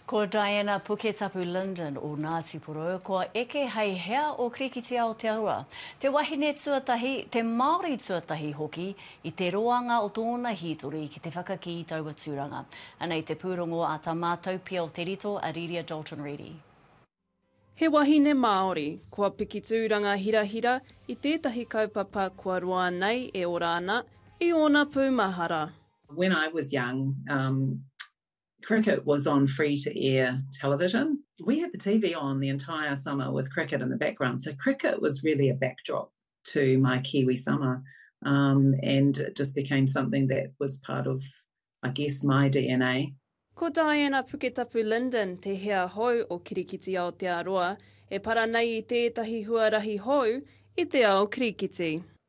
Ko Diana Puketapu Linden o Ngāti Porou, kua eke hei hea o Kirikiti Aotearoa. Te wahine tuatahi, te Māori tuatahi hoki i te roanga o tōna hītori ki te whakakī i taua tūranga. Anei te pūrongo a tā mātou pia o Te Rito, a Riria Dalton Reedy. He wahine Māori, kua piki tūranga hirahira i tētahi kaupapa kua roa nei e ora ana i ōna pūmahara. When I was young, Cricket was on free to air television. We had the TV on the entire summer with cricket in the background, so cricket was really a backdrop to my Kiwi summer um, and it just became something that was part of, I guess, my DNA. Ko Diana Puketapu Linden te hea hou o Kirikiti Aotearoa e para nei i tētahi huarahi hou i te ao kirikiti.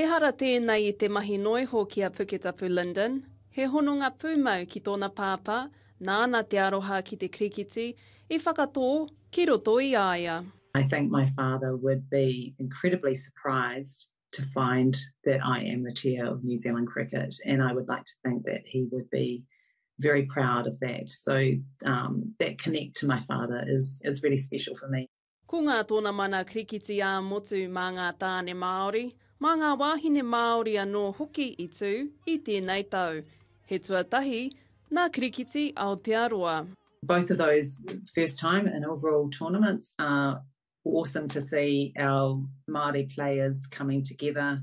Ehara tēnei i te mahi noa iho ki a Puketapu Linden, he hononga pūmau ki tōna pāpā, nāna te aroha ki te kirikiti, i whakatō ki roto i a ia. I think my father would be incredibly surprised to find that I am the chair of New Zealand Cricket and I would like to think that he would be very proud of that. So that connect to my father is really special for me. Ko ngā tōna mana krikiti ā-motu mā ngā tāne Māori, mā ngā wāhine Māori anō hoki i tū i tēnei tau. He tuatahi nā Krikiti Aotearoa. Both of those first time inaugural tournaments are awesome to see our Māori players coming together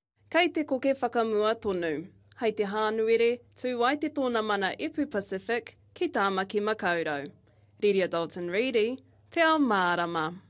Kei te koke whakamua tonu. Hai te Hānuere, tū ai te tōna mana Epu Pacific ki Tāmaki Makaurau. Riria Dalton Reedy, Te Ao Mārama.